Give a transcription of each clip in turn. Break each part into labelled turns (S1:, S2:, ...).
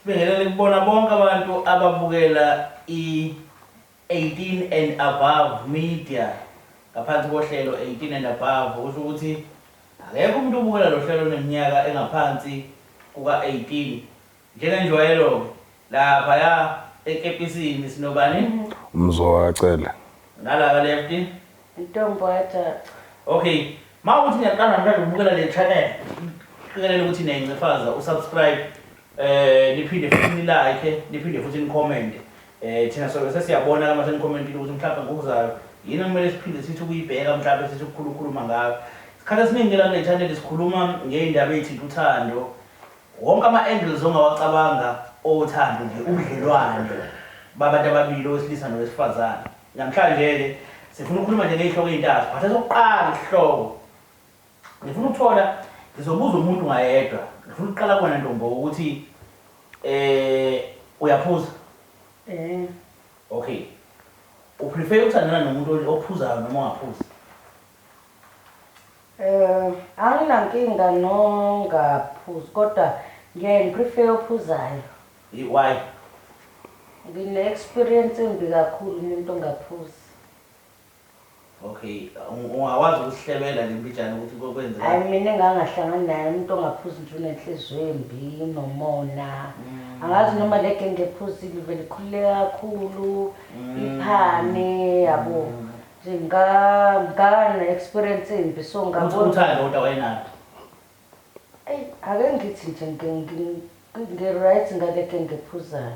S1: Sibingelele kubona bonke abantu ababukela i-18 and above media ngaphansi kohlelo 18 and above usho ukuthi akekho umuntu obukela lo hlelo oneminyaka engaphansi kuka-18 Njengenjwayelo-ke, laphaya ekepisini sinobani? Mzoka Cele.
S2: Nala ka
S1: left? Ntombo Ajaca.
S3: Okay.
S1: Mawukuthi ngiyaqala ngithanda ukubukela le channel, ngiqikelela ukuthi niyayincifaza usubscribe, eh niphinde futhi nilike, niphinde futhi nicommente. Eh thina sobe sesiyabona uma senicommentile ukuthi mhlawumbe ngokuzayo yini okumele siphinde sithi ukuyibheka mhlawumbe sithi ukukhulu ukukhuluma ngayo. Isikhathi esiningi la kule channel sikhuluma ngeindaba ezithinta uthando, Wonke ama angles ongawacabanga owothando nje ubudlelwane babantu ababili owesilisa nowesifazane. Namhlanje ke sifuna ukukhuluma nje ngezihloko ezintathu but esokuqala isihloko ngifuna ukuthola ngizobuza umuntu ngayedwa ngifuna ukuqala kuwena ntombo ukuthi eh uyaphuza? Eh. Okay. Uprefer ukuthandana nomuntu ophuzayo noma ongaphuzi?
S3: Anginankinga nongaphuzi kodwa ngiyaye ngi prefer ophuzayo. Hi why?
S1: Ngine
S3: experience embi kakhulu umuntu ongaphuzi. Okay
S1: ungakwazi ukusihlebela nje mbijana ukuthi kokwenzekani? Hayi mina engangahlangani
S3: naye umuntu ongaphuzi nje unenhliziyo embi nomona angazi noma legenge ephuzile ivele ikhululeke kakhulu iphane yabo Nginga ngana experience imbi so Uthi ngabona uthando kodwa wayenalo.
S1: Ey,
S3: ake ngithi nje ngi- ngi- ngi- ngi-right ngaleke ngiphuzayo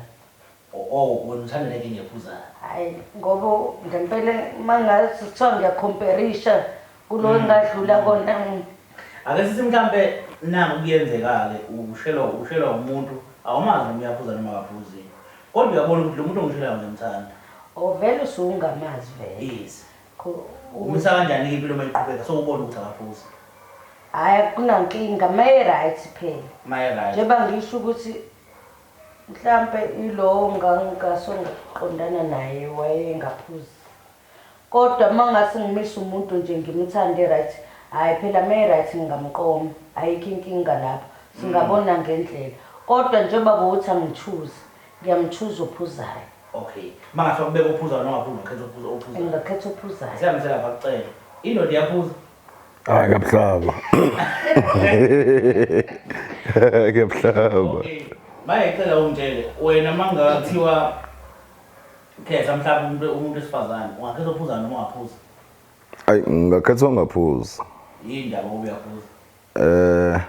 S3: O- Oh,
S1: wena uthanda leke ngephuzayo. hayi ngoba
S3: ngempela uma ngathi kuthiwa ngiyakhomperisha kulo engadlula kona mm, Ake sithi
S1: mhlampe nangu kuyenzeka-ke ushelwa ushelwa umuntu awumazi noma uyaphuza noma akaphuzi. Kodwa uyabona ukuthi lo muntu ongishelayo ngiyamthanda. Oh vele
S3: usuwungamazi vele. Yes. Ko-
S1: u- Umisa kanjani ke impilo uma iqhubeka so ubona ukuthi akaphuzi. Hhayi
S3: akunankinga maye-right phela. Maye right. Njengoba
S1: ngisho ukuthi
S3: mhlampe ilowo ngangasongaqondana naye wayengaphuzi. Kodwa mangase ngimise umuntu nje ngimuthande ryt hayi phela me ryt ngingamqoma ayikho inkinga lapho singabona ngendlela kodwa njengoba bowuthi angichuze ngiyamchuza ophuzayo. Ok
S1: mangathiwa kubekwe ophuzayo nongaphuzi ungakhetha ophuzayo? Ngingakhetha ophuzayo.
S3: Asihambise lapha kucele
S1: indoda iyaphuza? Hayi
S2: kabuhlaba. Kabuhlaba. Okay.
S1: Maye cela ungitshele wena mangathiwa Khetha mhlawumbe umuntu umuntu wesifazane
S2: ungakhetha ophuza noma ungaphuza. Ayi ngingakhetha ongaphuza. Yini ndaba ngoba
S1: uyaphuza? Eh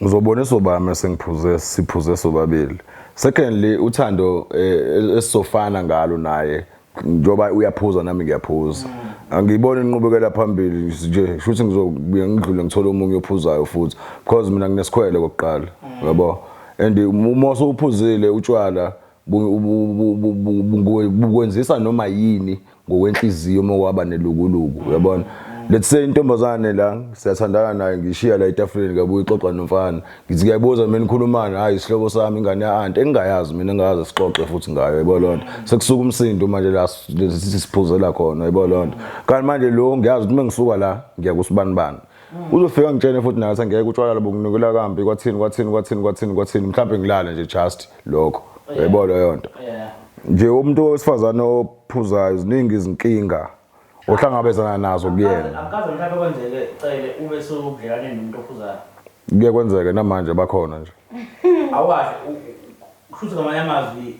S2: ngizobona esobami sengiphuze siphuze sobabili. Secondly uthando eh, esizofana ngalo naye njoba uyaphuza nami ngiyaphuza. Mm. angiyibona inqubekela phambili nje shuthi ngizobuye ngidlule ngithole omunye ophuzayo futhi because mina nginesikhwele kokuqala yabo and uma usuphuzile utshwala bukwenzisa noma yini ngokwenhliziyo uma waba nelukuluku uyabona let's say intombazane la siyathandana naye ngishiya la etafuleni kabuye ixoxa nomfana ngithi kuyabuza mina nikhulumani hayi isihlobo sami ingane ya-anti engingayazi mina engingayazi sixoxe futhi ngayo yebo loo nto sekusuka umsindo manje la sithi siphuzela khona yebo loo nto kanti manje lo ngiyazi ukuthi uma ngisuka la ngiya kusibanibani uzofika ngitshene futhi nathi angeke utshwala lobo nginikela kambi kwathini kwathini kwathini kwathini kwathini mhlawumbe ngilale nje just lokho oh, yebo leyo nto nje umuntu wesifazane ophuzayo ziningi izinkinga ohlangabezana nazo kuyena akaze mhlawumbe kwenzeke
S1: cele ube sewubudlelwane nomuntu ophuzayo kuye kwenzeke
S2: namanje bakhona nje awasho
S1: kushuthi ngamanye amazwi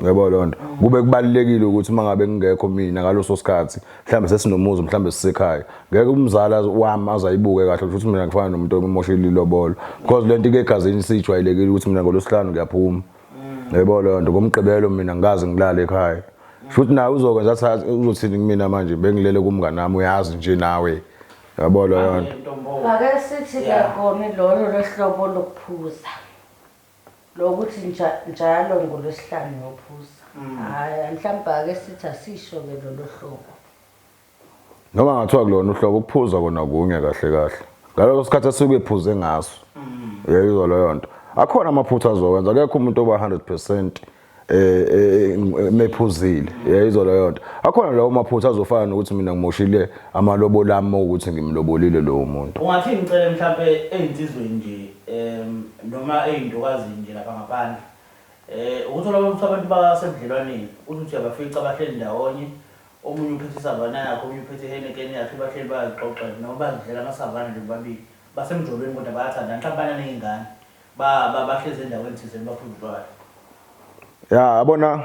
S2: Ngiyabo lo nto. Kube kubalekile ukuthi uma ngabe ngingekho mina ngaloso sikhathi, mhlambe sesinomuzi mhlambe sisekhaya. Ngeke umzali wami azayibuke kahle ukuthi mina ngifana nomuntu omoshile ilobolo. Because lento ike egazini sijwayelekile ukuthi mina ngolosihlanu ngiyaphuma. Ngiyabo lo nto. Ngomgqibelo mina ngikaze ngilale ekhaya. Futhi naye uzokwenza sathi uzothini kumina manje bengilele kumngane nami uyazi nje nawe. Yabo lo nto. Ake sithi
S3: ke akoni lolo lohlobo lokuphuza. Lo ukuthi nja, njalo ngoLwesihlanu ngiyophuza. Hhayi, mhlawumbe ake sithi asisho-ke lolo hlobo.
S2: Noma kungathiwa kulona uhlobo, ukuphuza kona kunye kahle kahle. Ngaleso sikhathi asuke ephuze ngaso. Uyayizwa leyo nto. Akhona amaphutha azowenza, akekho umuntu oba 100 percent eh, eh mephuzile yayizwa leyo nto akhona lawo maphutha azofana nokuthi mina ngimoshile amalobo lami ukuthi ngimlobolile lowo muntu ungathi ngicele mhlawumbe
S1: ezinsizweni nje em noma ezintokazi nje lapha ngaphandle eh ukuthola ukuthi abantu basebudlelwaneni uthi uyabafica abahleli ndawonye omunye uphethe isavana yakhe omunye uphethe ihenekeni yakhe bahleli bayazixoxela noma bazidlela amasavana nje bobabili basemjolweni kodwa bayathandana mhlawumbe bananey'ngane Ba ba bahlezi endaweni thizeni baphuma
S2: utshwala. Ya yabona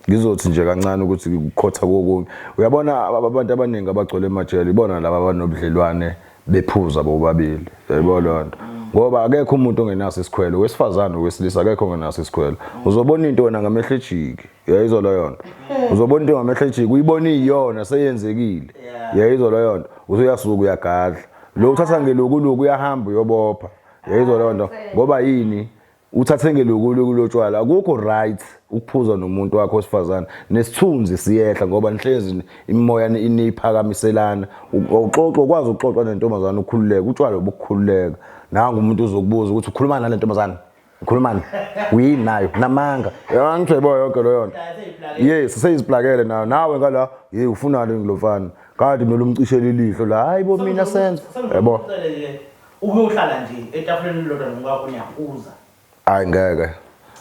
S2: ngizothi nje kancane ukuthi kukhotha kokunye uyabona abantu abaningi abagcwele emajele ibona laba abanobudlelwane bephuza bobabili yebo leyo nto ngoba akekho umuntu ongenaso isikhwelo wesifazane wesilisa akekho ongenaso isikhwelo uzobona into wena ngamehlo ejiki yayizwa leyo nto uzobona into ngamehlo ejiki uyibona iyona seyenzekile yayizwa leyo nto usuyasuka uyagadla lo uthatha ngelokuluku uyahamba uyobopha yayizwa leyo nto ngoba yini uthi athenge lokulu kulotshwala akukho right ukuphuza nomuntu wakho osifazane nesithunzi siyehla ngoba nihlezi imimoya iniphakamiselana uxoxa ukwazi ukuxoxa nentombazane ukhululeke utshwala obukhululeka nangu umuntu uzokubuza ukuthi ukhuluma nale ntombazane ukhulumani uyini nayo namanga angithi uyayiboya yonke loyo nto yes seyiziplakele nayo nawe ngala yeyi ufunani ngilofana kade mele umcishele ilihlo la hayi bo mina senza yabo Ukuyohlala
S1: nje etafuleni elilodwa nomkakho niyaphuza. Hayi ngeke.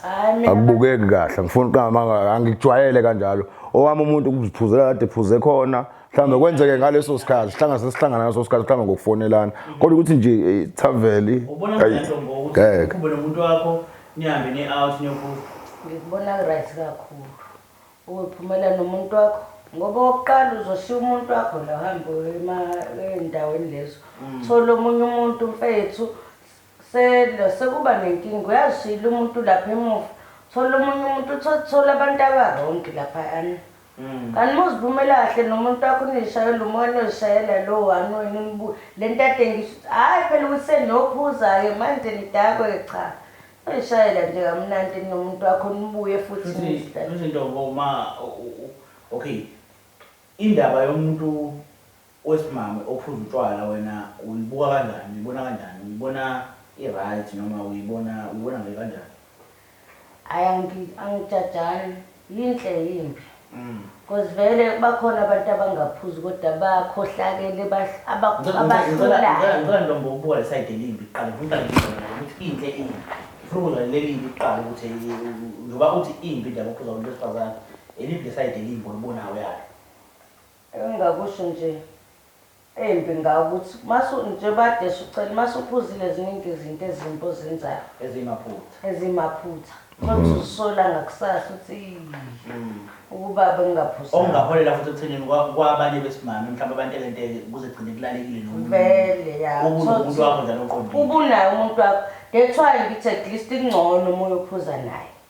S2: Hayi mina. Akubukeki kahle. Angifuni uqamanga angikujwayele kanjalo. Owami umuntu ukuziphuzela kade phuze khona. Mhlawumbe kwenzeke ngaleso sikhathi sihlanga sesihlangana ngaleso sikhathi mhlawumbe ngokufonelana. Kodwa ukuthi nje eh, thaveli. Ubona Ayi, ngento ngokuthi
S1: ngeke. ukhumbe nomuntu wakho nihambe ni-out niyophuza. Ngikubona
S3: right kakhulu. Uyophumela nomuntu wakho ngoba okokuqala uzoshiya umuntu wakho la uhambe ezindaweni lezo mm. thola omunye umuntu mfethu sekuba nenkinga uyazishiyela umuntu lapha emuva thola omunye umuntu thola abantu abarongi laphayana mm. kanti uma uzivumela kahle nomuntu wakho unishayela umoya nozishayela lo one wena le nto adengisho ukuthi hhayi phela ukuthi seniyophuza-ke manje nidakwe cha Ayishayela nje kamnandi nomuntu wakho nibuye futhi Futhi nizidlale. futhi ntombo ma
S1: u- u- u- okay indaba yomuntu wesimame ophuza utshwala wena uyibuka kanjani uyibona kanjani uyibona i-right noma uyibona uyibona nje kanjani? Hhayi angi- angijajani. Yinhle yimbi coz vele bakhona abantu abangaphuzi kodwa bakhohlakele abakhulayo. Ngicela ntombo ukubuka le side elimbi kuqala ngicela ukuthi inhle imbi. Ngifuna ukuzwa lelimbi kuqala ukuthi njengoba uthi imbi indaba ukuphuza abantu besifazane eliphi le side elimbi olibonayo yalo.
S3: Engingakusho nje Embi nga ukuthi masu njengoba kade sucela masu phuzile ziningi izinto ezimbi ozenzayo Eziyimaphutha. eziyimaphutha khona usuzisola ngakusasa uthi iyy ukuba bengingaphuzanga Okungaholela futhi ekuthenini
S1: kwa- kwabanye besimame mhlawumbe abantekenteke kuze kugcine kulalekile nomunye vele ya umuntu. Ubu
S3: nomuntu wakho njalo
S1: oqondile. ubunaye umuntu wakho
S3: that's why ngithi at least kungcono uma uyophuza naye.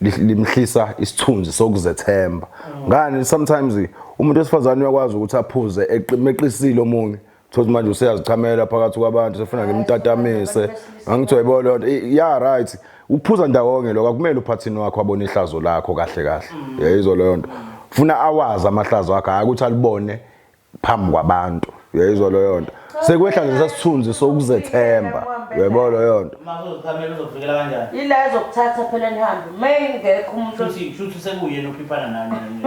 S2: limhlisa isithunzi sokuzethemba ngani sometimes umuntu wesifazane uyakwazi ukuthi aphuze eqimeqisile omunye thothi manje useyazichamela phakathi kwabantu sefuna ngimtatamise angithi wayibo lento ya right ukuphuza ndawonye lokho akumele uphathini wakho abone ihlazo lakho kahle kahle yayizwa leyo nto funa awazi amahlazo akhe hayi ukuthi alibone phambi kwabantu uyayizwa leyo nto sekwehla nje sasithunzi sokuzethemba uyaybo leyo nto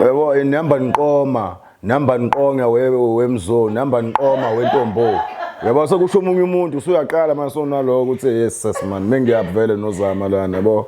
S1: yebo inihamba
S2: niqoma nihamba niqonga wemzoni nihamba niqoma wentombo yabo sekusho omunye umuntu usuyaqala manje sonaloko ukuthi yes sasman mengiyavele nozama lana yabo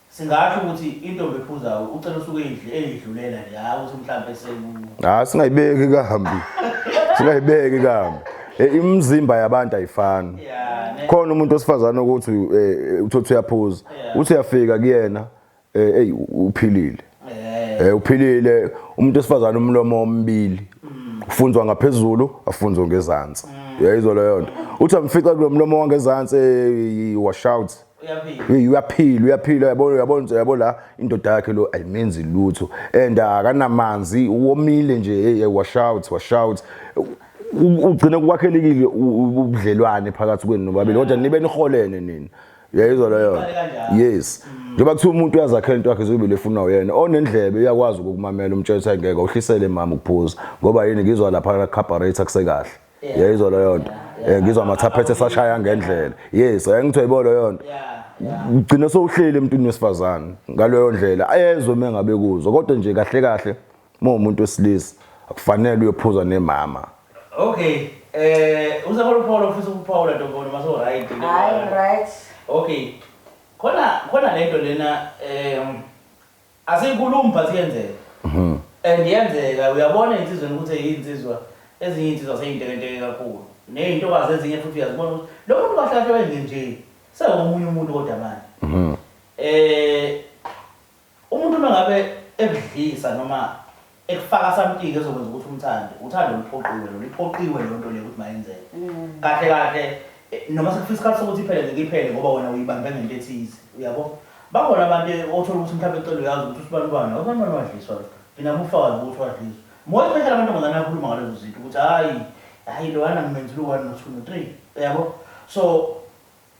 S1: Singasho ukuthi intombi ephuzayo ucela usuke eyidl- eyidlulela nje
S2: hhayi ukuthi mhlawumbe seku Ah singayibeki kambi. Singayibeki kambi. Eh, Imizimba yabantu ayifani. ya ne Khona umuntu osifazane ukuthi eh, uthothi uyaphuza. Uthi uyafika kuyena eh ey uphilile. eh Eh uphilile umuntu osifazane umlomo omibili. Ufunzwa ngaphezulu, afunzwe ngezansi. Uyayizwa leyo nto. Uthi amfica kulomlomo wangezansi eh, washout. Hey uyaphila uyaphila uyabona uyabona uyabo la indoda yakhe lo ayimenzi lutho and akanamanzi uwomile nje hey wash out wash out ugcine kwakhelekile ubudlelwane phakathi kwenu nobabili kodwa nibe niholene nina uyayizwa leyo yes njengoba kuthiwa umuntu uyazakhela into yakhe zobile efuna uyena onendlebe uyakwazi ukukumamela umtshela ukuthi ayingeke uhlisele mama ukuphuza ngoba yini ngizwa lapha la carburetor kusekahle yayizwa leyo nto eh, ngizwa amathaphethe esashaya ngendlela yes ayengithiwa yibo leyo nto ugcine sowuhleli emntwini wesifazane ngaleyo ndlela ayezwe uma engabe kuzo kodwa nje kahle kahle uma umuntu wesilisa akufanele uyophuza nemama okay
S1: eh uzakho luphawula ufisa ukuphawula ntombona uma so right hayi right
S3: okay
S1: khona khona lento lena um Asiyikhulumi but iyenzeka. Mhm. And yenzeka uyabona insizweni ukuthi eyinsizwa ezinye insizwa seyintekenteke kakhulu. Nezintokazi ezinye futhi uyazibona ukuthi lo muntu kahle kahle wenze nje. Sewumunye umuntu kodwa manje. Mhm. Eh umuntu uma ngabe ekudlisa noma ekufaka something ezokwenza ukuthi umthande uthando luphoqiwe lona iphoqiwe loo nto leyo ukuthi mayenzeke Mm. kahle kahle eh, noma sekufika isikhathi sokuthi iphele ngeke iphele ngoba wena uyibambe ngento ethize uyabo bakhona abantu eh, othola ukuthi mhlawumbe ecela uyazi ukuthi usibanibani abanibani wadliswa lo ngina mufakazi ukuthi wadliswa more especially amantombazane akhuluma ngalezo zinto ukuthi hhayi hhayi loyana ngimenzile u-one no-two no-three uyabo so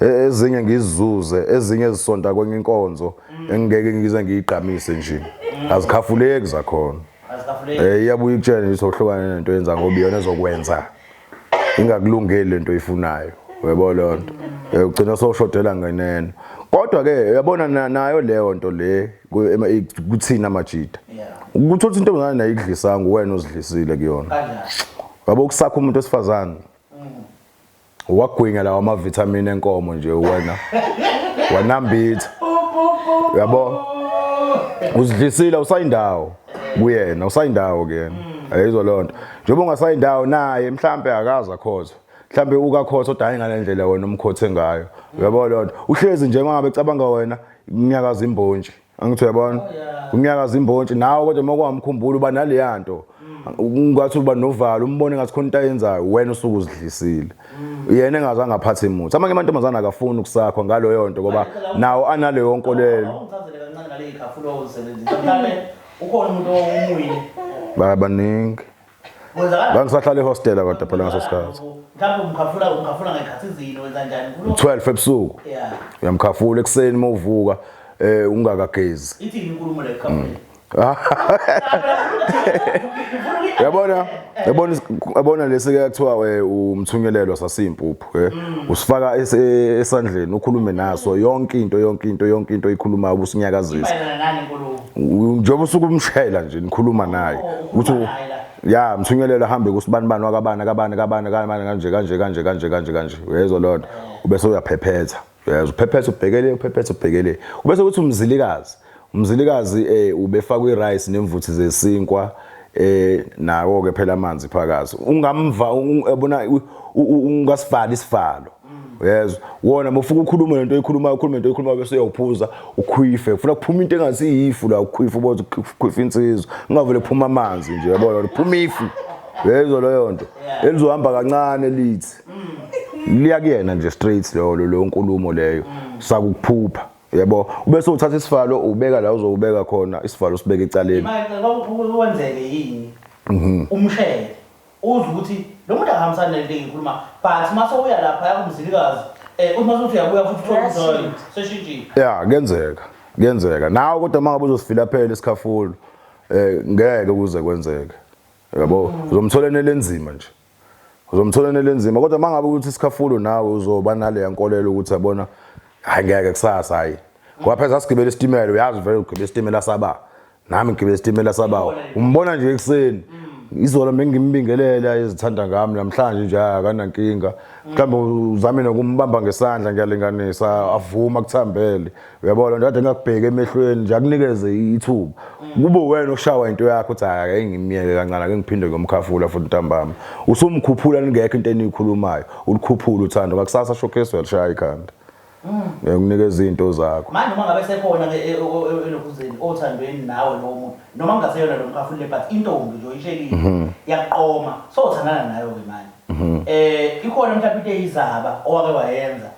S2: E- ezinye ngizizuze ezinye zisonta kwenye inkonzo engingeke ngize ngiyigqamise nje azikhafuleki zakhona Eh iyabuya ikutshela nje sohlukane nento yenza ngoba iyona ezokwenza ingakulungeli lento ifunayo uyabo lonto Eh, ugcina soshodela ngenene kodwa ke uyabona na- nayo leyo nto le ku- ema- i- kuthina majita ukuthi uthi intombazane nayo idlisanga uwena ozidlisile kuyona yabo kusakho umuntu wesifazane wagwinya lawa amavitamin enkomo nje wena wanambitha uyabo uzidlisile usayindawo kuyena usayindawo kuyena ayizwa leyo nto njengoba ungasayindawo naye mhlampe akaza khozwa mhlambe ukakhotha odayi ngalendlela wena umkhothe ngayo uyabo leyo nto uhlezi nje mangabe cabanga wena kunyakaza imbonje angithi uyabona kunyakaza imbontshi nawe kodwa uma kwamkhumbula uba naleya nto ngathi uba novalo umbone ngathi khona into ayenzayo wena usuke uzidlisile yena engazange aphathe imuthi amanye amantombazane akafuni ukusakho ngaloyo nto ngoba nawo analeyo nkolelo
S1: ukhona umuntu owumuyile babaningi
S2: Ngangisahlala ehostela kodwa phela ngaso sikhathi. Mhlawumbe umkhafula
S1: umkhafula ngekhathi izini wenza njani? 12 ebusuku.
S2: Yeah. Uyamkhafula ekuseni uma uvuka eh ungakagezi. Ithi inkulumo
S1: le khafula.
S2: Yabona, yabona yabona lesi ke kuthiwa eh, umthunyelelwa sasimpu. Eh, mm. usifaka esandleni ukhulume naso yonke into yonke into yonke into ikhulumayo ubusinyakazisa njengoba usuke umshela nje nikhuluma naye oh, ukuthi ya mthunyelelo ahambe kusibani bani wakabani akabani kabani kabani kanje kanje kanje kanje kanje kanje uyezwa lona ubese uyaphephetha Uyazi uphephetha ubhekele uphephetha ubhekele. Ubese kuthi umzilikazi. Umzilikazi eh ubefakwa irice nemvuthi zesinkwa eh nawo ke phela amanzi phakazi. Ungamva ubona ungasivali isivalo. Uyezwa? Wona bofuka ukhuluma lento oyikhuluma ukhuluma into oyikhuluma bese uyawuphuza ukhwife. Ufuna kuphuma into engathi iyifu la ukhwife uboza ukhwife insizwa. Ungavele kuphuma amanzi nje yabona uphuma ifu. Uyezwa leyo nto. Elizohamba kancane lithi mm. liya kuyena nje straight leyo leyo nkulumo leyo mm. sakuphupha yebo ube sewuthatha isivalo ubeka la uzowubeka khona isivalo sibeke
S1: ecaleni kwenzeke yini
S2: mhm. umshele
S1: uze ukuthi lo muntu akahambisani nento engikhuluma but uma sowuya lapha yakumzilikazi eh, um uma sothi uyabuya futhi uthola seshintshile ya kuyenzeka
S2: kuyenzeka nawe kodwa uma ngabe uzosifila phela isikhafulo um ngeke kuze kwenzeke yabo mm. uzomthola enelenzima nje uzomthola nele nzima kodwa mangabe ukuthi isikhafulo nawe uzoba nale yankolelo ukuthi yabona hayi ngeke kusasa hayi ngoba phela sasigibela isitimela uyazi vele ugibela isitimela saba nami ngigibela isitimela saba umbona nje ekuseni izolo bengimbingelela ezithanda ngami namhlanje nje akanankinga mhlawumbe uzame nokumbamba ngesandla ngiyalinganisa avuma kuthambele uyabona ndade ngakubheka emehlweni nje akunikeze ithuba kube wena oshawa into yakho uthi hayi ake ngimyeke kancane ake ngiphinde ngomkhafula futhi ntambama usumkhuphula ningekho into eniyikhulumayo ulikhuphula uthando ngakusasa showcase welishaya ikhanda ngikunikeza mm. izinto zakho manje uma ngabe sekhona ke
S1: eh, elokuzeni eh, eh, othandweni nawe lowo muntu noma kungaseyona lo mkhafula le but intombi nje oyishelile mhm. yaqoma sothandana nayo ke manje mhm. eh ikhona mhlawumbe into eyizaba owake wayenza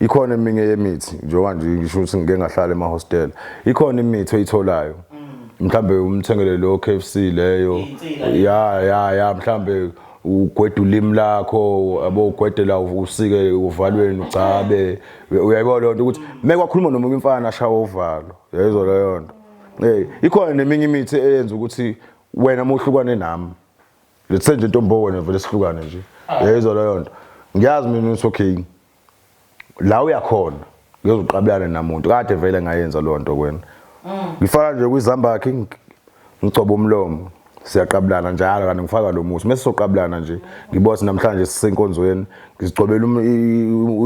S2: ikhona eminye yemithi njengoba nje ngisho ukuthi ngike ngahlala emahostela ikhona imithi oyitholayo mm. mhlambe umthengele lo KFC leyo ya ya ya mhlambe ugweda ulimi lakho abo ugwedela usike uvalweni ugcabe uyayibona lento ukuthi make wakhuluma nomunye umfana ashawa uvalo yayizwa leyo nto hey ikhona neminye imithi eyenza ukuthi wena muhlukwane nami Lethe nje ntombo wena vele sihlukane nje. Ah. Yayizwa leyo nto. Ngiyazi mina uthi okay. La uyakhona. Ngiyoziqabelana namuntu. Kade vele ngayenza leyo nto kwena. Mm. Ngifaka nje kwizambakhe ngigcoba umlomo. Siyaqabulana njalo kanti ngifaka lo musi. Mese soqabulana nje. Ngibose namhlanje sisenkonzweni. Ngizigcobela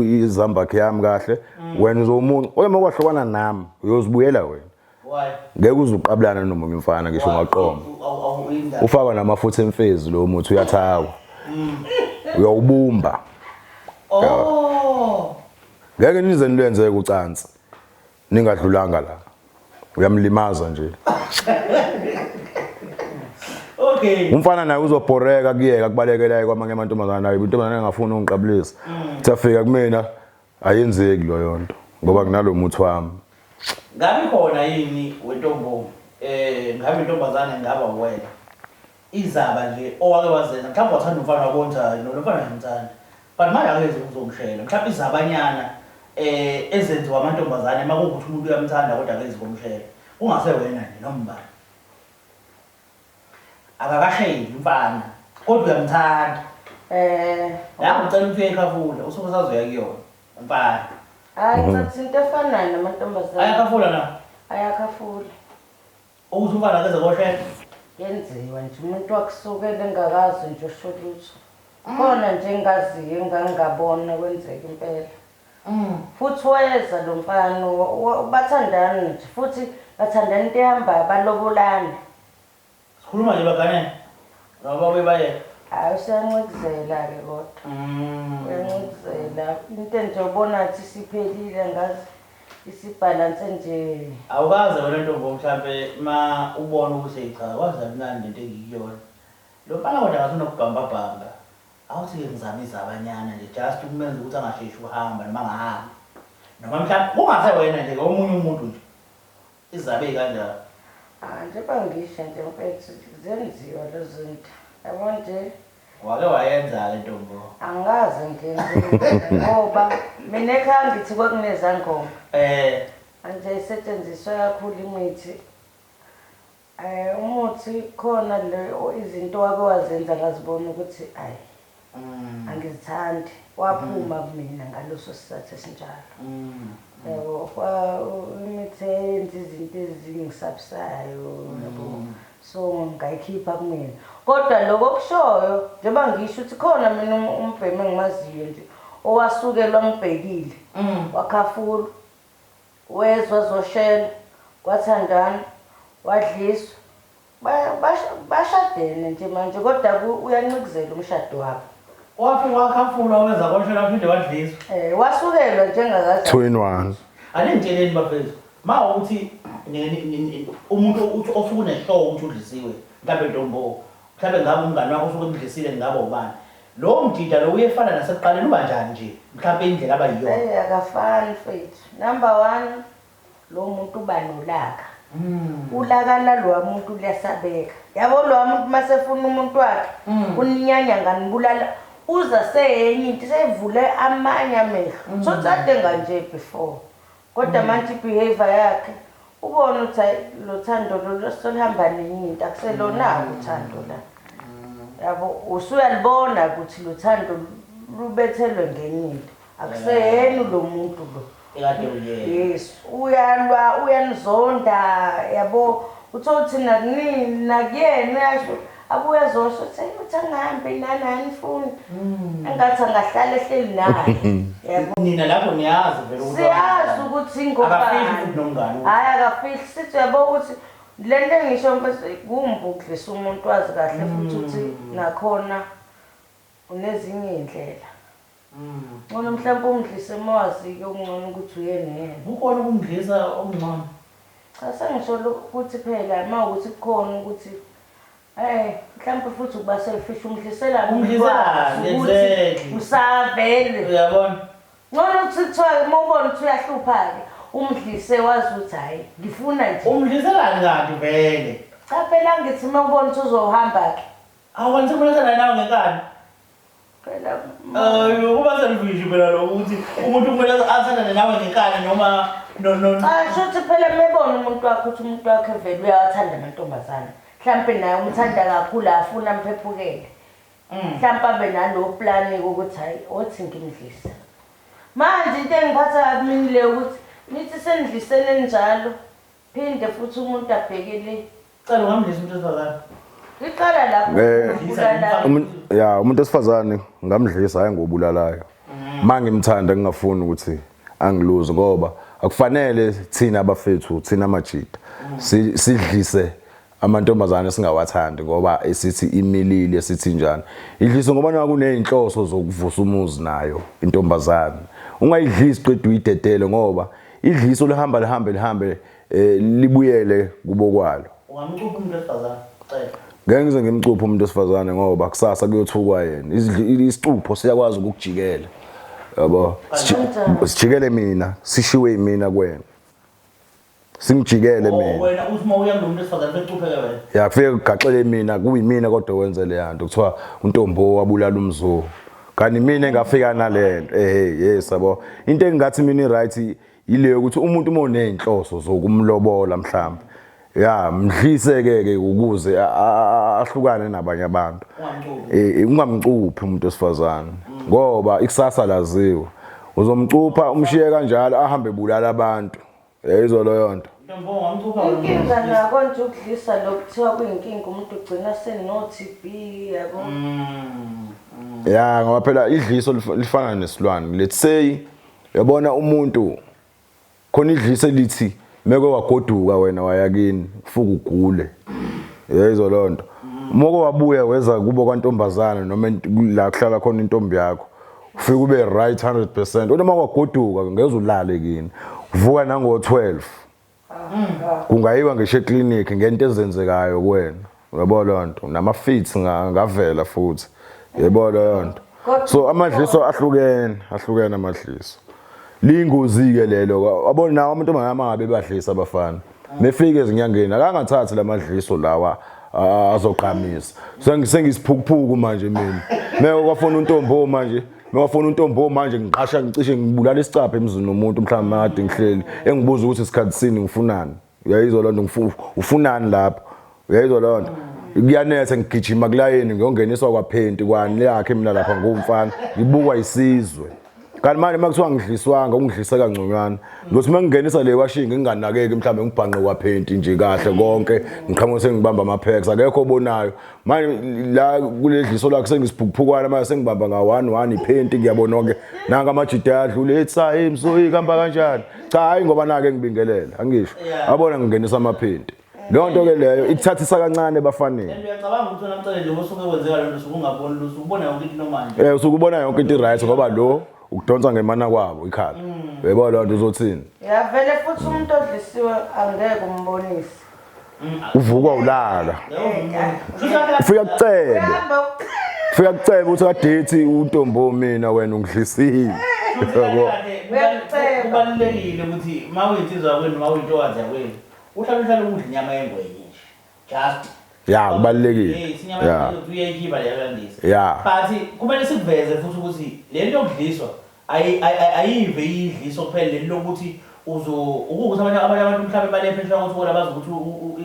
S2: izambakhe yami kahle. Mm. Wena uzomuncu. Oyema kwahlukana nami. Uyozibuyela wena. ngeke uze uqabulana nomunye umfana ngisho ungaqoma ufaka namafutha emfezi lo muthi uyathakwa mm. uyawubumba oh. ngeke nize nilenzeke ucansi ningadlulanga la uyamlimaza nje okay
S1: umfana naye
S2: uzobhoreka kuyeka kubalekelayo kwamanye amantombazana naye intombazana engafuni ungiqabulisa mm. safika kumina Ayenzeki loyonto ngoba nginalomuthi wami. Ngabe
S1: khona yini wentombongo eh ngabe intombazane ngaba uwena izaba nje owake wazenza mhlawumbe wathanda umfana wakonza no lomfana ngimthanda but manje akenze ukuzomshela mhlawumbe izabanyana eh ezenziwa amantombazane makuwukuthi umuntu uyamthanda kodwa akenzi komshela kungase wena nje noma ubani Akakasheli umfana kodwa uyamthanda. Eh. Nawe ucela ukuthi uyekhafula usuke usazoya kuyona umfana. Hayi mhm.
S3: ngathi into efanayo namantombazane. Ayakhafula na?
S1: Ayakhafula. Ukuthi umfana akeze koshela. Yenziwa
S3: nje umuntu wakusukela engakazi nje usho lutho. Khona nje engaziyo engangabona kwenzeka impela. Futhi weza lomfana bathandan nje futhi bathandan into ehambayo balobolana.
S1: Sikhuluma nje bagane noma babuye bayeke. Hayi
S3: useyancikizela ke kodwa. Uyancikizela. Into nje ubona ngathi isiphelile angazi isibhalanse nje. Awukaze wena
S1: ntombo mhlampe ma ubona ukuthi eyi cha kwaze kamnandi lento engikuyona. Lomfana kodwa ngathi unokubhambabhamba. Awuthi ke ngizama izabanyana nje just ukumenza ukuthi angasheshi ukuhamba noma angahambi. Noma mhlawumbe kungase wena nje ke omunye umuntu nje. Izabe ikanjalo. Ah njengoba
S3: ngisho nje mfethu zenziwa lezo zinto. Yabo nje. Wake wayenza
S1: ke ntombo. Angikaze ngiyenze
S3: ngoba mina ekhaya ngithi kwakunezangoma. Eh. Manje isetshenziswa kakhulu imithi. Ay umuthi khona le izinto wake wazenza ngazibona ukuthi ay angizithandi waphuma kumina ngaleso sizathu esinjalo yabo kwa imithi eyenza izinto ezingisabisayo yabo so ngayikhipha kumina kodwa lokho kushoyo njengoba ngisho ukuthi khona mina umbhemu engimaziyo nje owasukelwa ngibhekile wakhafula Wezwa zoshela kwathandwana wadliswa bashadene nje manje kodwa uyancikizela umshado wabo. Wafi wakhafulwa
S1: weza koshela waphinde wadliswa.
S2: Eh
S1: wasukelwa njengakaza.
S2: 2 in 1.
S3: Aningitsheleni
S1: bafethu ma uthi umuntu uthi osuke uneshow ukuthi udlisiwe mhlambe ntombo mhlambe ngabe umngane wakho usuke emdlisile ngabe ubani Lowo mjida lo uyefana nasekuqaleni uba njani nje mhlampe indlela aba yiyona. Hey akafani mfethu.
S3: Number one lo muntu uba nolaka. Mm. Ulaka lalowa muntu liyasabeka. Yabo lowa muntu masefuna umuntu wakhe mm. uninyanya nganibulala uza seyenye into sevule amanye amehlo. Mm. So tsade nganje before. Kodwa manje ibehavior yakhe ubona ukuthi hayi lo Thando lo solihamba nenye into akuselona-ke uthando la. Yabo usuyalibona ukuthi lo Thando lubethelwe ngenye into akuseyena lo muntu lo. Ekade
S1: uyena. Yes uyalwa
S3: uyanizonda yabo uthole ukuthi nakunina nakuyena uyasho. abuye azosho ukuthi ayi uthi angihambe nani anifuni hmm. engathi angahlala ehleli naye nina lapho niyazi vele ukuthi
S1: siyazi ukuthi
S3: ingobani hhayi
S1: akafihli sithi
S3: uyabo ukuthi le nto engisho mfethu kumbi ukudlisa umuntu wazi kahle futhi ukuthi hmm. nakhona unezinye iy'ndlela Ncono mhlampe umdlise mawazike okuncono ukuthi uyena yena. Kukhona ukumdlisa
S1: okuncono? Cha
S3: sengisho lo kuthi phela mawukuthi kukhona ukuthi Eeh mhlampe futhi ukuba selfish umdlisela nini Umdliselani wazi ukuthi
S1: exactly. usavele
S3: Uyabona?
S1: Ncono ukuthi
S3: kuthiwa-ke mawubona ukuthi uyahlupha-ke umdlise wazi ukuthi hhayi ngifuna nje. Umdliselani kanti
S1: vele? Cha phela angithi
S3: mawubona ukuthi uzohamba-ke. Awu kanti sengibona
S1: senganakwa ngenkani. Phela
S3: Eh,
S1: ukuba selfish phela lokho ukuthi umuntu kumele athandane nawe ngenkani noma no no no. Cha shuthi phela
S3: mebona umuntu wakho ukuthi umuntu wakhe vele uyawathanda amantombazane. Mhlampe naye umthanda kakhulu afuna mphephukele. Mhlampe abe nalo plan ukuthi hayi othi ngimdlise. Manje into engiphatha kabi mina le ukuthi nithi senidlisene njalo.
S1: Phinde futhi umuntu abheke le.
S3: Cela ungamdlisa umuntu wesifazane. Liqala lapho Ne- ukubulala. Umu- ya umuntu wesifazane
S2: ngamdlisa hayi ngobulalayo uma ngimthanda ngingafuni ukuthi angiluze ngoba akufanele thina abafethu thina majita si- sidlise amantombazane singawathandi ngoba esithi imilili esithi njani idlise ngoba naku nezinhloso zokuvusa umuzi nayo intombazane ungayidlisi qedwe uyidedele ngoba idliso lihamba lihambe lihambe eh, libuyele kubokwalo ungamcupha umuntu
S1: wesifazane cela ngeke ngize ngimcuphe
S2: umuntu wesifazane ngoba kusasa kuyothukwa yena isicupho siyakwazi ukukujikela yabo sijikele mina sishiwe imina kwena simjikele oh, mina wena uthi uma uya kulomuntu
S1: esifazane becupheke wena ya kufike kugaxele
S2: mina kuyimina kodwa wenze le yanto kuthiwa untombo wabulala umzulu kanti mina engafika nalento eh yes yabo into engathi mina right yileyo ukuthi umuntu uma uneyinhloso zokumlobola mhlawumbe ya mdlise ke ke ukuze ahlukane nabanye abantu eh ungamcuphi umuntu osifazane mm. ngoba ikusasa laziwa uzomcupha umshiye kanjalo ahambe bulala abantu Yayizwa loyo nto. Inkinga
S1: nako
S3: nje ukudlisa lo kuthiwa kuyinkinga umuntu ugcina seno-TB yabo.
S2: Ya ngoba phela idliso lif- lifana nesilwane. Let's say yabona umuntu khona idliso elithi meke wagoduka wena waya kini ufuku ugule. Yayizwa leyo nto. Moko wabuya weza kubo kwantombazana noma ent- la kuhlala khona intombi yakho. ufike ube right 100 percent kodwa uma kwagoduka ngeze ulale kini uvuka nango-12 kungayiwa ngisho eklinikhi ngento ezenzekayo kuwena uyabo loo nto nama-fits ngavela futhi yebo leyo nto so amadliso ahlukene ahlukene amadliso liyingozi-ke lelo abona nawo amantombazane amangabe badlisa abafana nefike ezinyangeni akangathathi lamadliso lawa azogqamisa sengisiphukuphuku manje mina meko kwafona untombo manje mewafona untombo manje ngiqasha ngicishe ngibulala isicapha emzini nomuntu mhlawumbe makade ngihleli engibuza ukuthi isikhathi sini ngifunani uyayizwa loo nto ufunani lapho uyayizwa leyo nto kuyanetha ngigijima kulayini ngiyongeniswa kwaphenti kwani yakhe mina lapha ngumfana ngibukwa isizwe kanti manje makuthiwa ngidliswanga ungidlise kangconywana ngothi uma ngingenisa le washing nginganakeki mhlawumbe ngibhanqe kwaphenti nje kahle konke ngiqhamuke sengibamba ama-pax akekho obonayo manje la kule dliso lakhe sengisiphukuphukwana manje sengibamba nga-one one iphenti ngiyabona onke nanka amajida ayadlula ethi sayi msoyi kuhamba kanjani cha hhayi ngoba nake ngibingelela angisho abona ngingenisa amaphenti Leyo nto ke leyo ikuthathisa kancane ebafaneni. And uyacabanga ukuthi wena mcele
S1: njengoba usuke kwenzeka lento sukungaboni lutho
S2: ukubona
S1: yonke into
S2: normal
S1: nje. Eh
S2: usuke
S1: ubona yonke into right ngoba lo ukudonsa
S2: ngemana kwabo ikhala. Yebo leyo nto uzothini? Yavele futhi
S3: umuntu odlisiwe angeke umbonise. Uvukwa
S2: ulaka. Yebo umuntu. Kushuthi kade Ufika kucebe. Uyahamba uc- Ufika kucebe uthi kadethi untombo mina wena ungidlisile. Yebo. Uyaceba.
S1: kubalulekile ukuthi uma uyinsizwa kwenu uma uyintokazi yakwenu Uhlala uhlala ukudla inyama yengwenye nje. Just ya kubalulekile
S2: ya
S1: uyayikhipha leyo landisa ya but
S2: kumele
S1: sikuveze futhi ukuthi le nto yokudliswa ayive idliso kuphela leli lokuthi ukuthi abanye abantu mhlawumbe banephesha ukuthi bona bazi ukuthi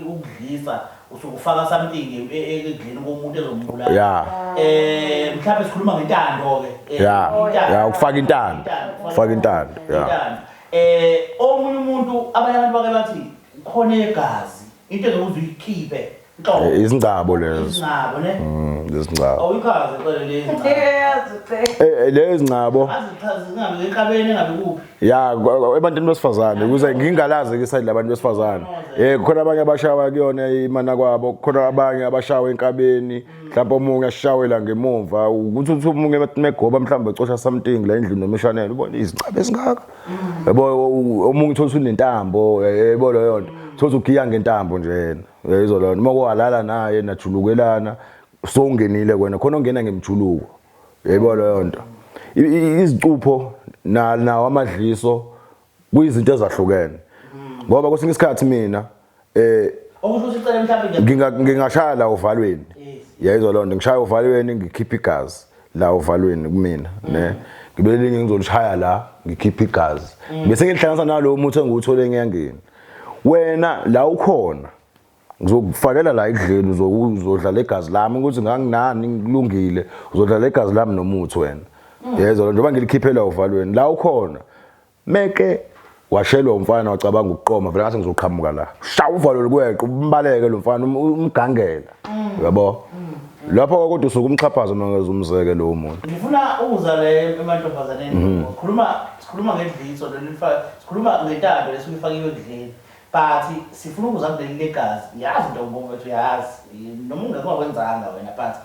S1: ukudlisa usuke ufaka something e, e, ekudleni komuntu ezombulala ya eh mhlawumbe sikhuluma ngentando ke eh, ya ya ukufaka
S2: intando ukufaka intando ya
S1: Eh omunye umuntu abanye abantu bake bathi khona egazi into engeke uze uyikhiphe nhlobo. Eh, Izingcabo lezo.
S2: Izingcabo ne?
S1: Mm, Izingcabo.
S2: Awuyikhaze
S1: cela lezi ngcabo.
S2: Yazi ucela. Eh, eh, Lezi ngcabo. Azichazi zingabe ngenkabeni
S1: engabe kuphi. Ya kwa- kwa- ebantwini
S2: besifazane ukuze ngingalazi ke side labantu besifazane. Eh khona abanye abashawa kuyona imana kwabo, khona abanye abashawa enkabeni. mhlawumbe omunye ashawela ngemumva ukuthi uthi omunye megoba mhlawumbe ecosha something la endlini nomishanele ubona izincaba esingaka yabo omunye uthola usunentambo yebo leyo nto thola ugiya ngentambo nje yena yayizwa leyo nto uma kwalala naye najulukelana sowungenile kwena khona ongena ngemjuluko yebo leyo nto izicupho nawo amadliso kuyizinto ezahlukene ngoba kwesinye isikhathi mina eh okusho
S1: ukuthi icela mhlawumbe ngingashaya la
S2: uvalweni yayizwa lonto ngishaya uvalweni ngikhipha igazi la uvalweni kumina ne ngibe linye ngizolishaya la ngikhipha igazi bese ngilihlanganisa nalowo muthi engiwuthole enyangeni wena la ukhona ngizokufakela la ekudleni uzodla legazi lami ukuthi nganginani ngikulungile uzodla legazi lami nomuthi wena mm. yezwa lo njengoba ngilikhiphela uvalweni la ukhona meke washelwa umfana wacabanga ukuqoma vele ngase ngizoqhamuka la sha uvalo lokweqa umbaleke lo mfana um-, umgangela mm. yabo mm. lapho kwakodwa usuke umxhaphaza uma ngeze umzeke lowo muntu ngifuna ukuza le
S1: emantombazaneni sikhuluma sikhuluma ngedliso leli sikhuluma ngentando lesuke ifakiwe ekudleni But sifuna ukuza kuleli legazi yazi into mfowethu yazi noma ungeke wakwenzanga wena but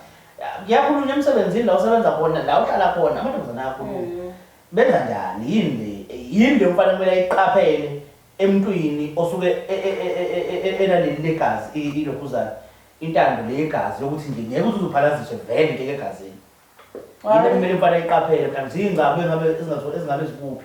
S1: kuyakhulunywa emsebenzini la usebenza khona la uhlala khona amantombazane ayakhuluma mm. benza njani yini le yini le umfana kumele ayiqaphele emntwini osuke enaleli e, e, e, legazi ilokhuzana intando le yegazi yokuthi nje ngeke uze uzophalaziswe vele into egazini yini kumele umfana ayiqaphele kanti ziyingcabo ezingabe ezingakuphi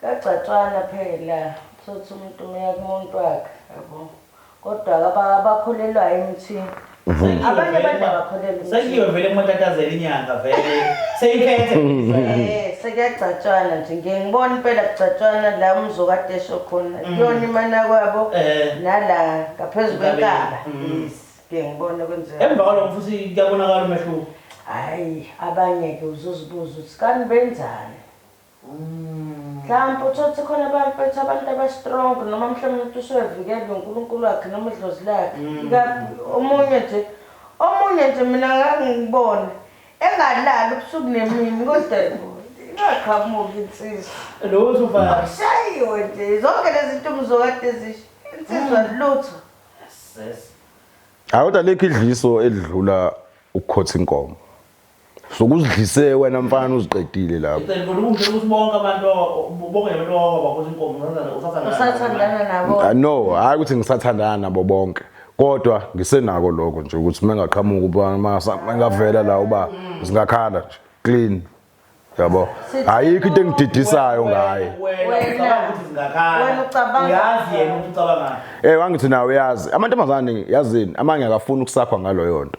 S3: Kuyagcatshwana phela uthotha umuntu umeya kumuntu wakhe yabo kodwa abakholelwayo emthini Mm-hmm. abanye abantu abakholelwa sekiwe vele kumatatazela
S1: inyanga vele seyiphethe eh sekuyagcatshwana
S3: nje ngiye ngibona impela kugcatshwana la umzokade esho khona mm. kuyona imana kwabo eh. nala ngaphezulu kwenkaba mm. ngiye ngibona kwenzeka emva kwalokho futhi
S1: kuyabonakala umehluko hayi
S3: abanye-ke uzuzibuza ukuthi kani benzani Mhlampe uthole ukuthi khona abamfethu abantu abastrong noma mhlawumbe umuntu usuwevikelwe uNkulunkulu wakhe noma idlozi lakhe. Ikakhulu omunye nje omunye nje mina ngake ngibone engalali ubusuku nemini kodwa ingaqhamuki insizwa. Lo uzovaya.
S1: Akushayiwe nje
S3: zonke lezi nto umzokade ezisho insizwa lutho. Yes.
S2: Hayi kodwa lekho idliso elidlula ukukhotha inkomo. sokuzidlise wena mfana uziqedile lapho Ngicela ukuthi ungisho ukuthi bonke
S1: abantu o- bonke abantu owakwakuthi inkomo usathandana-
S3: usathandana nabo. usathandana nabo Ah, no hayi ukuthi
S2: ngisathandana nabo bonke kodwa ngisenako lokho nje ukuthi mengaqhamuka uba masa- mengavela la uba singakhala nje clean yabo ayikho into engididisayo ngaye Wena ucabanga ukuthi
S3: zingakhala. Wena ucabanga- Uyazi yena ukuthi
S1: ucabangani. Eh wangithi nawe yazi
S2: amantombazane yazini amanye akafuni ukusakhwa ngaloyo nto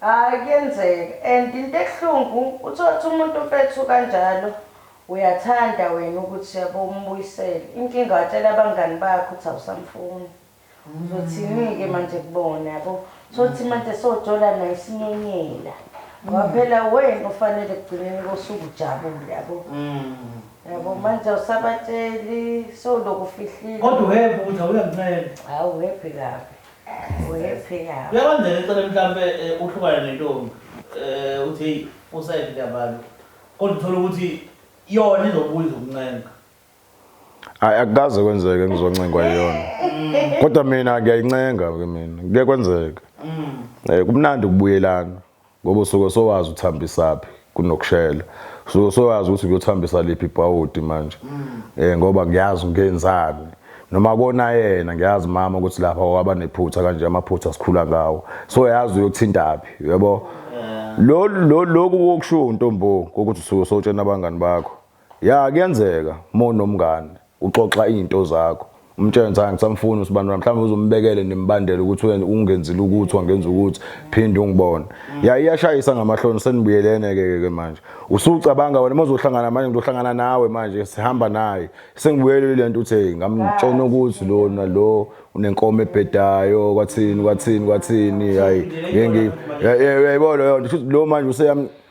S1: Hayi
S3: kuyenzeka and into ebuhlungu uthotha umuntu mfethu kanjalo uyathanda wena ukuthi yabo umbuyisele inkinga watshela abangani bakho ukuthi awusamfuni uzothinike manje kubona yabo thothi manje sojola naye isinyenyela ngoba phela wena ufanele ekugcineni kosuku ujabule yabo yabo manje awusabatsheli sowulokhu ufihlile Kodwa uhebhe ukuthi
S1: awuyancela. hawu webhe
S3: kabi Kuyakwenzeka eceleni mhlampe
S1: eh, uhlukane nentombi eh, uthi heyi usayiphi ndabantu kodwa uthole ukuthi yona izobuya izokuncenga
S2: hayi akukaze kwenzeke ngizoncengwa yiyona kodwa mina ngiyayincenga ke mina kuye kwenzeke um kumnandi ukubuyelana Ngoba usuke sowazi uthambisaphi kunokushela. Usuke sowazi ukuthi uyothambisa liphi ibhawudi manje. Eh ngoba ngiyazi ngenzani. Noma kona yena ngiyazi mama ukuthi lapha waba nephutha kanje amaphutha sikhula ngawo. So yazi uyokuthintaphi, uyabo? Lo lo loku okushiwo untombo ukuthi usuke sotshena abangani bakho. Ya kuyenzeka mo nomngane uxoxa into zakho umtshele ngithi hayi ngisamfuni usibandula mhlawumbe uzombekele nembandela ukuthi wena ungenzile ukuthi wangenza ukuthi phinde ungibone ya iyashayisa ngamahloni senibuyelene ke ke manje usucabanga wena mozohlangana manje ngizohlangana nawe manje sihamba naye sengibuyelele lento uthi ngamtshona ukuthi lona lo unenkomo ebhedayo kwathini kwathini kwathini hayi ngeke yayibona yona lo manje useyam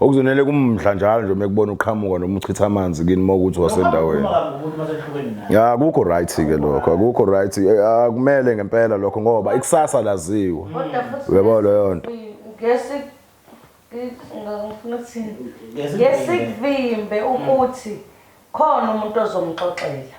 S2: okuzonele kumdla njalo nje mekubona uqhamuka noma uchitha amanzi kini uma ukuthi wasendaweni ya akukho right ke lokho akukho right eh, akumele ngempela lokho ngoba ikusasa laziwe uyabo leyo nto
S3: ngesikuvimbe ukuthi khona umuntu ozomxoxela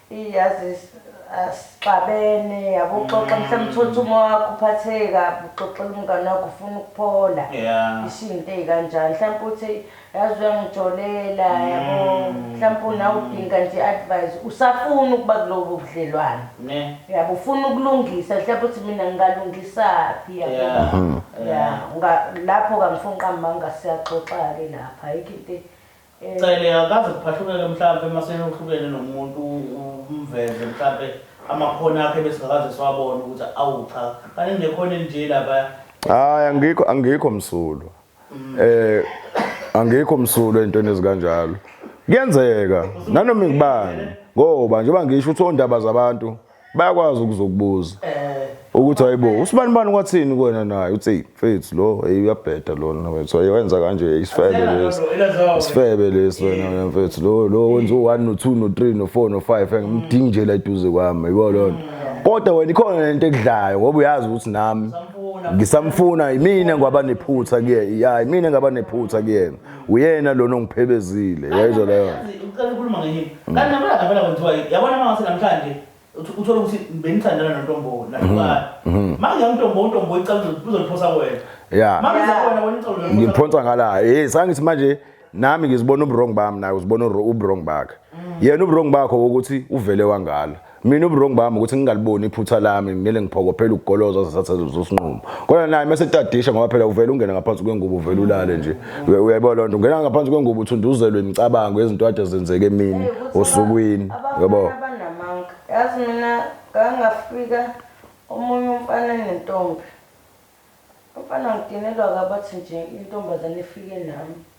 S3: Eyi yazi asixabene yabo uxoxa mhlawumbe uthole ukuthi uma wakho uphatheke kabi uxoxela umngane wakho ufuna ukuphola Yeah. isho izinto ey'kanjani mhlawumbe uthi yazi uyangijolela yabo mhlawumbe unawe udinga nje i-advise usafuna ukuba kulobo budlelwane Ne. yabo ufuna ukulungisa mhlawumbe uthi mina ngingalungisaphi yabo Yeah. Yeah. ya nga- lapho kangifuni qambanga siyaxoxa-ke lapha ayikho into e- Cele
S1: akaze kuphahlukeke mhlampe maseyohlukene nomuntu umveze mhlampe amakhono akhe besingakaze siwabone ukuthi awu cha kanti ngekhona elinje lapha hayi angikho
S2: angikho msulwa mm. eh angikho msulwa entweni ezikanjalo kuyenzeka nanoma ngibani ngoba njengoba ngisho ukuthi ondaba zabantu bayakwazi ukuzokubuza ukuthi hayibo usibani bani kwathini kuwena naye uthi mfethu lo hey uyabheda lona mfethu ayenza kanje isifebe lesi isifebe lesi wena mfethu lo lo wenza u1 no 2 no 3 no 4 no 5 ngimdingi nje la duze kwami yibo lona mm. kodwa wena ikhona lento ekudlayo ngoba uyazi ukuthi nami ngisamfuna yimina ngwaba nephutha kuyena ya yimina ngaba nephutha kuyena uyena lona ongiphebezile yayizwa leyo ucela ukhuluma ngenye
S1: mm. kanti nabona ngabela kwenziwa yabona mangase namhlanje uthola ukuthi benithandana nontombo nakuba mm-hmm. manje umntombo untombo icala uzoliphosa wena ya manje wena wena icala ngimphonsa ngala hey
S2: sangithi manje nami ngizibona ubrong bami naye uzibona ubrong bakhe mm. yena ubrong bakho ukuthi uvele wangala mina uburongo bami ukuthi ngingaliboni iphutha lami ngimele ngiphokophela ukugoloza zasathazuza usinqumo kodwa naye mase tadisha ngoba phela uvela ungena ngaphansi kwengubo uvela ulale nje uyayibona lonto ungena ngaphansi kwengubo uthunduzelwe imicabango yezinto ade zenzeke emini osukwini yabo yazi
S3: mina ngangafika omunye umfana nentombi umfana ngidinelwa kabathi nje intombazane ifike nami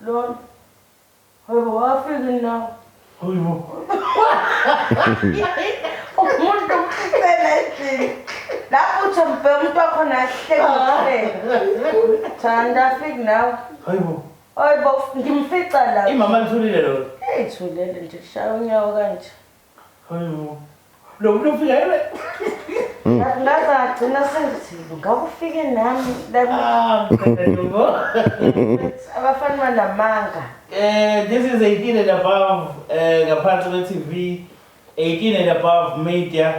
S3: Lord. Haibo, wafika ini nawe?
S1: Haibo.
S3: Umuntu umfela endlini. Lapho uthi mbhe umuntu wakho nahlekile. Thanda afik nawe. Haibo.
S1: Haibo,
S3: ngimfica la. Imama lithulile lona.
S1: Hey, thulele nje,
S3: shaya unyawo kanje.
S1: Lo muntu ufika yena.
S3: Ngaze agcina sengithile ngakufike nami Ah, mfethu. abafana banamanga. Eh, this
S1: is 18 and above eh ngaphansi kwe-TV 18 and above media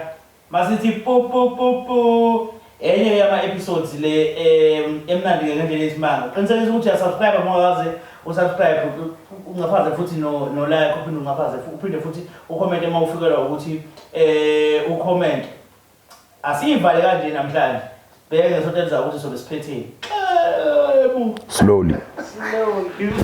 S1: Masithi po po po po. Enye yama episodes le em emnandi ke ngendlela esimanga. Qinisekisa ukuthi uyasubscribe ngoba waze usubscribe ungaphaze futhi no no like uphinde ungaphaze uphinde futhi ucomment uma ufikelwa ukuthi eh ucomment. Asiyivale kanje namhlanje. Bheke ngesonto elizayo ukuthi sobe siphetheni. Slowly. Slowly.